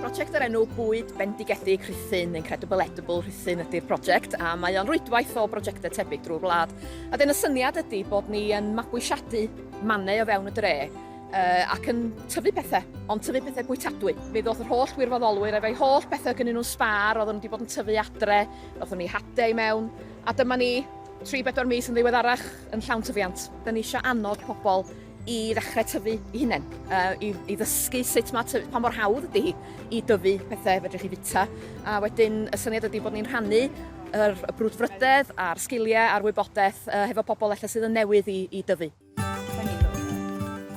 Prosiect o'r enw Bwyd Bendigedig Rhuthun, Incredible Edible Rhuthun ydy'r prosiect, a mae o'n rwydwaith o brosiectau tebyg drwy'r wlad. A dyn y syniad ydy bod ni yn mabwysiadu mannau o fewn y dre, uh, ac yn tyfu pethau, ond tyfu pethau bwytadwy. Mi ddoth yr holl wirfoddolwyr efo'i holl bethau gynnyn nhw'n sbar, oedden nhw wedi bod yn tyfu adre, ddothon ni hade i mewn, a dyma ni 3-4 mis yn ddiweddarach yn llawn tyfiant. Da ni eisiau annog pobl i ddechrau tyfu i hunain, uh, i, i ddysgu sut mae tyfu, pa mor hawdd ydy hi i dyfu pethau fedrwch chi fita. A wedyn y syniad ydy bod ni'n rhannu yr y brwdfrydedd a'r sgiliau a'r wybodaeth uh, hefo pobl efallai sydd yn newydd i, i dyfu.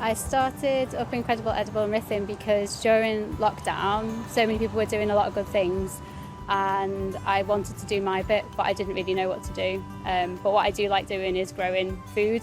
I started Up Incredible Edible and Rhythm because during lockdown, so many people were doing a lot of good things and I wanted to do my bit, but I didn't really know what to do. Um, but what I do like doing is growing food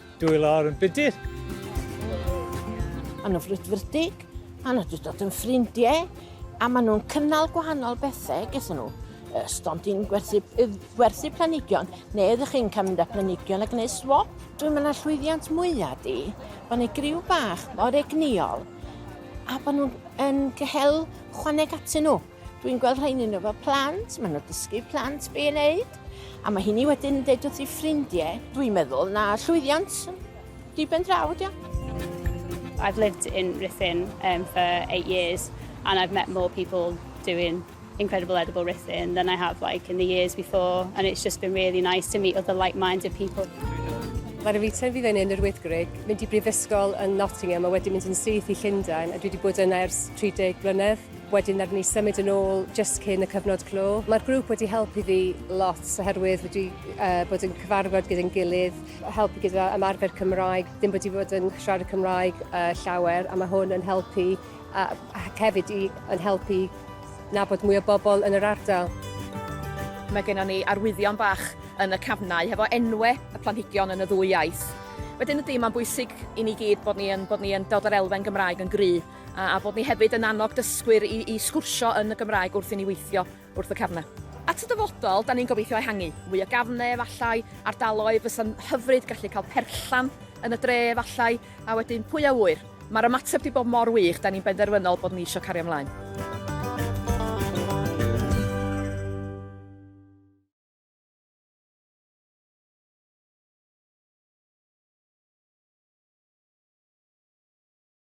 Dwy lawr yn budur. Maen nhw'n frwdfrydig, maen nhw wedi dod yn ffrindiau, a maen nhw'n cynnal gwahanol bethau gyda nhw. Stond i'n gwerthu, gwerthu planigion, neu ydych chi'n cael mynd â planigion a gwneud swap? Dwi'n mynd â llwyddiant mwyaf di, bod ni griw bach mor egnïol, a bod nhw'n yn cael chwaneg atyn nhw. Dwi'n gweld rhain yn efo plant, maen nhw'n dysgu plant be i wneud, a mae hynny wedyn yn dweud wrth ei ffrindiau. Dwi'n meddwl na llwyddiant diben draw ydi I've lived in Ruthin um, for eight years and I've met more people doing incredible edible Ruthin than I have like in the years before and it's just been really nice to meet other like-minded people. Mae'r Revita fydd yn yn yr Wyddgrug, mynd i brifysgol yn Nottingham a wedi mynd yn syth i Llundain a dwi wedi bod yna ers 30 blynedd. Wedyn nawn ni symud yn ôl jyst cyn y cyfnod clo. Mae'r grŵp wedi helpu fi lot oherwydd wedi bod yn cyfarfod gyda'n gilydd, helpu gyda ymarfer Cymraeg, ddim wedi bod yn siarad Cymraeg llawer a mae hwn yn helpu ac hefyd i yn helpu nabod mwy o bobl yn yr ardal. Mae gennon ni arwyddion bach yn y cafnau hefo enwe y planhigion yn y ddwy iaith. Wedyn ydy, mae'n bwysig i ni gyd bod ni yn bod ni yn dod o'r elfen Gymraeg yn gry'. A a bod ni hefyd yn annog dysgwyr i i sgwrsio yn y Gymraeg wrth i ni weithio wrth y cefnau. At y dyfodol, da ni'n gobeithio ehangu. Mwy o gafnau efallai, ardaloedd fysa'n hyfryd gallu cael perllan yn y dre efallai, a wedyn pwy a ŵyr? Mae'r ymateb 'di bod mor wych, da ni'n benderfynol bod ni isio cario mlaen.